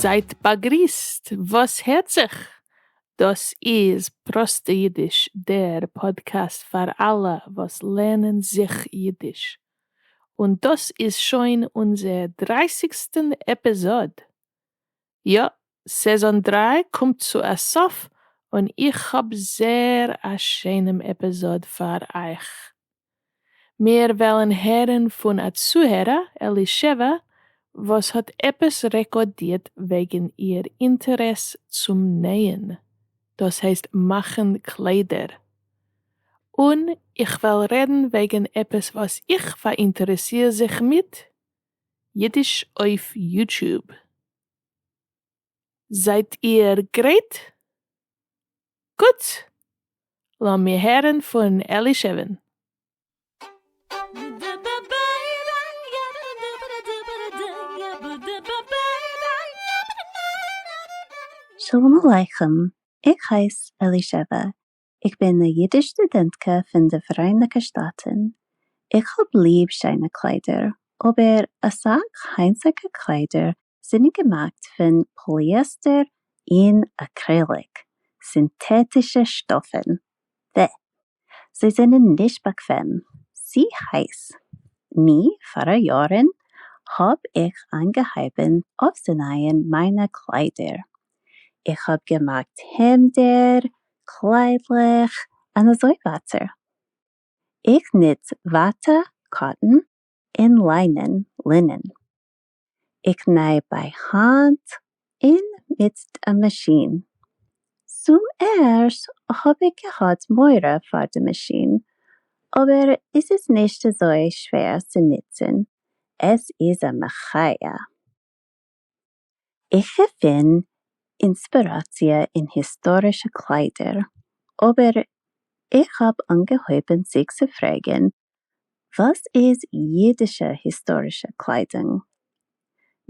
זייט באגריסט, וואס הערט זיך? דאס איז פראסטע אידיש, דער פאדקעסט פאר אלע וואס לערנען זיך אידיש. און דאס איז שוין אונזער דרייסיגסטען עפיזאד! יא, סעזאן דרײַ קומט צו א סוף און איך האב זעהר א שיינעם עפיזאד פאר אייך. מיר וועלן הערן פון א צוהערער אלישבע וואס האט עפעס רעקארדירט וועגן איר אינטערעס צום נעהן, דאס הייסט מאכן קליידער. און איך וועל רעדן וועגן עפעס וואס איך פאראינטערעסיר זיך מיט, אידיש אויף יוטוב. זייט איר גרייט? גוט! לאמיר הערן פון אלישע'ן. שלום עליכם, איך הייס אלישבע, איך בין א אידיש סטודענטקע פון די פאראייניקע שטאטן, איך האב ליב שיינע קליידער, אבער אסאך היינטיגע קליידער זענען געמאכט פון פאליעסטער און אקרעליק, סינטעטישע שטאפן, ו. זיי זענען נישט באקוועם, צו הייס. ני, פאר א יארן האב איך אנגעהויבן אויפצונייען מיינע קליידער, געמאכט, איך האב געמאכט העמדער, קליידלעך, און אזוי ווייטער. איך נוץ וואטע, קאטן, און ליינען, לינען. איך ניי ביי האנט און מיט א מאשין. צום ערשט האב איך געהאט מורא פאר די מאשין, אבער עס איז נישט אזוי שווער צו נוצן, עס איז א מחיה. איך געפין אינספיראציע אין היסטארישע קליידער, אבער איך האב אנגעהויבן זיך צו פרעגן וואס איז אידישע היסטארישע קליידונג?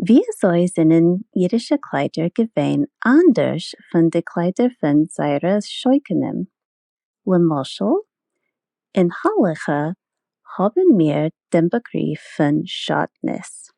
וויאזוי זענען אידישע קליידער געווען אנדערש פון די קליידער פון זייערע שושנים? למשל אין הלכה האבן מיר דעם באגריף פון שדנות.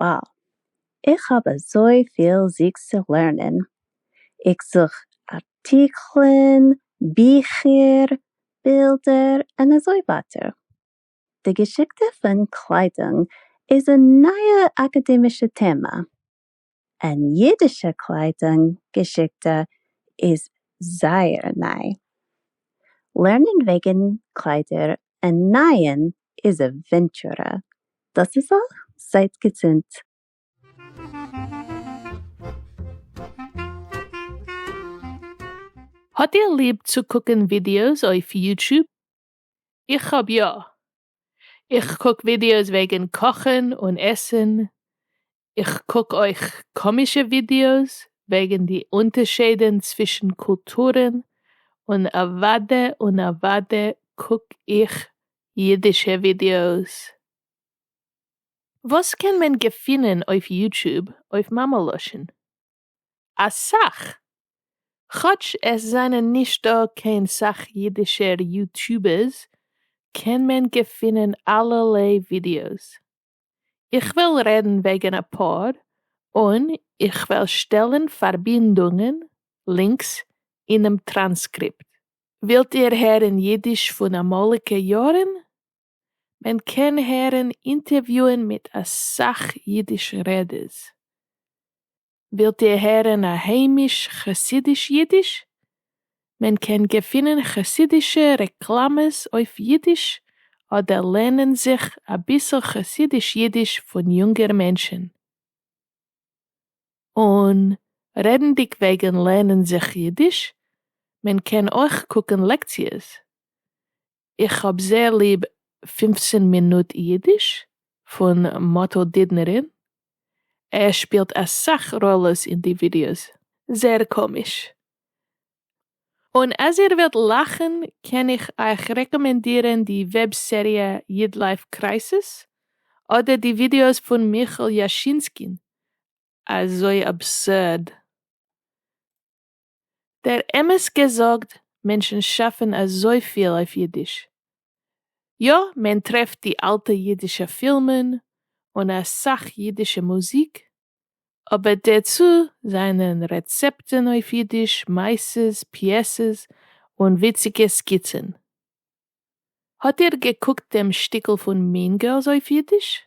וואו! איך האב אזויפיל זיגס צו לערנען, איך זוך ארטיקלען, ביכער, בילדער, און אזוי ווייטער. די געשיקטע פון קליידונג איז א נייע אקאדעמישע טעמע. און אידישע קליידונג געשיקטע איז זייער ניי. לערנען וועגן קליידער און נייען איז א ווענטשורע. דאס איז אויך. זייט געזונט. האט איר ליב צו קוקן ווידיאוס אויף יוטוב? איך האב יא. איך קוק ווידיאוס וועגן קאכן און עסן, איך קוק אויך קאמישע ווידיאוס וועגן די אונטערשעדען צווישן קולטורען און אוואדע און אוואדע קוק איך אידישע ווידיאוס. וואס קען מען געפינען אויף יוטוב אויף מאמע לשון? אסאך! כאטש עס זענען נישט דא קיין סאך אידישער יוטובערס קען מען געפינען אלערליי ווידיאוס. איך וועל רעדן וועגן א פאר, און איך וועל שטעלן פארבינדונגען, לינקס, אינעם טראנסקריפט. ווילט איר הערן אידיש פון אמאליגע יארן? מען קען הערן אינטערוויוען מיט אסאך אידיש רעדערס. ווילט איר הערן א היימיש חסידיש אידיש? מען קען געפינען חסידישע רעקלאמעס אויף אידיש אדער לערנען זיך אביסל חסידיש אידיש פון יונגער מענטשן. און רעדנדיג וועגן לערנען זיך אידיש, מען קען אויך קוקן לעקציעס. איך האב זייער ליב פֿופֿצן מינוט אידיש פון מאטל דידנערין, ער שפילט אסאך ראלעס אין די ווידיאוס, זייער קאמיש. און אז איר ווילט לאכן קען איך אייך רעקאמענדירן די וועב סעריע איד לייף קרייסיס, אדער די ווידיאוס פון מיכל יאשינסקין, אזוי אבסורד. דער אמת געזאגט מענטשן שאפן אזויפיל אויף אידיש. יא מען טרעפט די אלטע אידישע פילמען און אסאך אידישע מוזיק, אבער דערצו זענען רעצעפטן אויף אידיש, מעשות, פיעסעס, און וויציגע סקיצן. האט איר געקוקט דעם שטיקל פון Mean Girls אויף אידיש?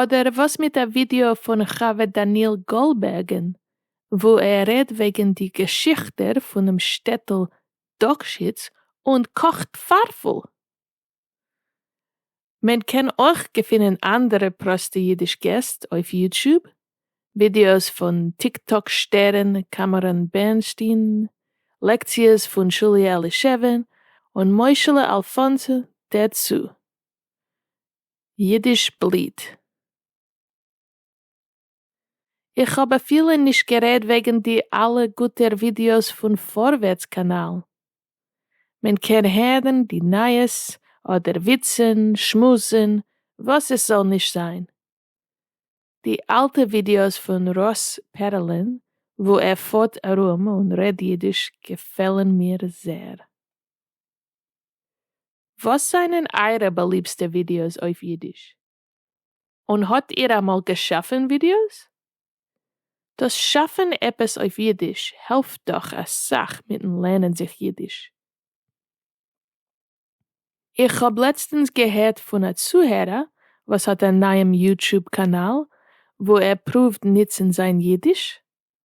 אדער וואס מיט א ווידיאו פון ח ו דניאל גאלבערגען וואו ער רעדט וועגען די געשיכטער פונעם שטעטעל דאקשיץ און קאכט פארפעל? מען קען אויך געפינען אנדערע פראסטע אידיש געסט אויף יוטשוב, ווידיאוס פון טיק טאק שטערן קאמאראן בערנשטיין, לעקציעס פון שולי אלישעווען און מוישעלע אלפאנסא דערצו. ייִדיש בליט. איך האָב אַפֿילו נישט גערעדט וועגן די אַלע גוטער ווידעאָס פֿון פֿאָרווערטס קאַנאַל. מען קען הערן די נײַעס, אָדער וויצן, שמועסן, וואָס עס זאָל נישט זײַן. די אַלטע ווידעאָס פֿון ראָס פּערעלען, וווּ ער פֿאָרט אַרום און רעדט ייִדיש, געפֿעלן מיר זעהר. וואס זענען אייערע באליבסטע ווידיאוס אויף אידיש? און האט איר אמאל געשאפן ווידיאוס? דאס שאפן עפעס אויף אידיש העלפט דאך אסאך מיטן לערנען זיך אידיש. איך האב לעצטענס געהערט פון א צוהערער וואס האט א נייעם יוטשוב קאנאל וואו ער פרואווט ניצן זיין אידיש,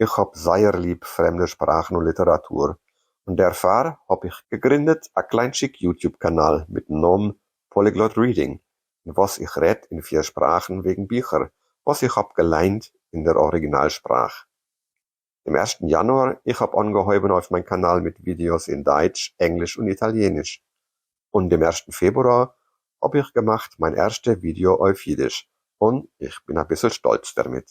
איך האב זייער ליב פרעמדע שפראכן און ליטעראטור, און דערפאר האב איך געגרינדעט א קליינטשיק יוטיוב קאנאל מיטן נאמען Polyglot Reading אין וואס איך רעדט אין פיר שפראכן וועגן ביכער וואס איך האב געליינט אין דער אריגינאל שפראך. דעם ערשטן יאנואר איך האב אנגעהויבן אויף מיין קאנאל מיט ווידיאס אין דייטש, ענגליש און איטאליעניש, און דעם ערשטן פעברואר האב איך געמאכט מיין ערשטע ווידיאו אויף אידיש, און איך בין אביסל שטאלץ דערמיט.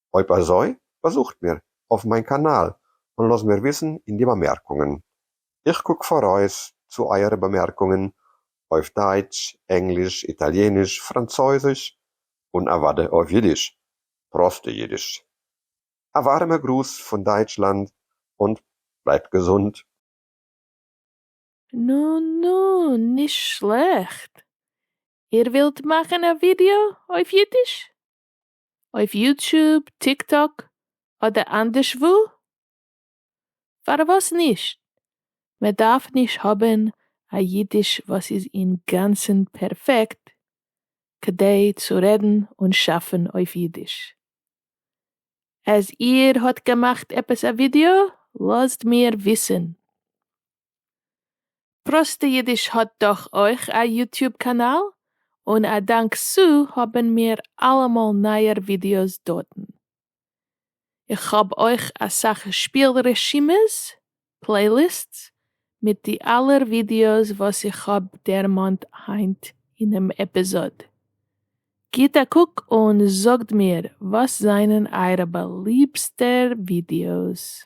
אויב אזוי באזוכט מיר אויף מיין קאנאל און לאז מיר וויסן אין די באמערקונגען. איך קוק פאראויס צו אייערע באמערקונגען אויף דייטש, ענגליש, איטאליעניש, פראנצויזיש, און אוודאי אויף אידיש, פראסטע אידיש. א ווארעמע גרוס פון דייטשלאנד און בלייבט געזונט. נו נו, נישט שלעכט. איר ווילט מאכן א ווידיאו אויף אידיש? אויף יוטוב, טיק טאק אדער אנדערש וואו? פארוואס נישט? מען דארף נישט האבן א אידיש וואס איז אינגאנצן פערפעקט כדי צו רעדן און שאפן אויף אידיש. אז איר האט געמאכט עפעס א ווידעא לאזט מיר וויסן. פראסטע אידיש האט דאך אויך א יוטיוב קאנאל, און א דאנק סו האבן מיר אלעמאל נייער ווידיאוס דארטן. איך האב אויך אסאך שפיל רשימות, פלעיליסטס, מיט די אלער ווידיאוס וואס איך האב דערמאנט היינט אינעם עפיזאד. גיט א קוק און זאגט מיר וואס זענען אייערע באליבסטע ווידיאוס.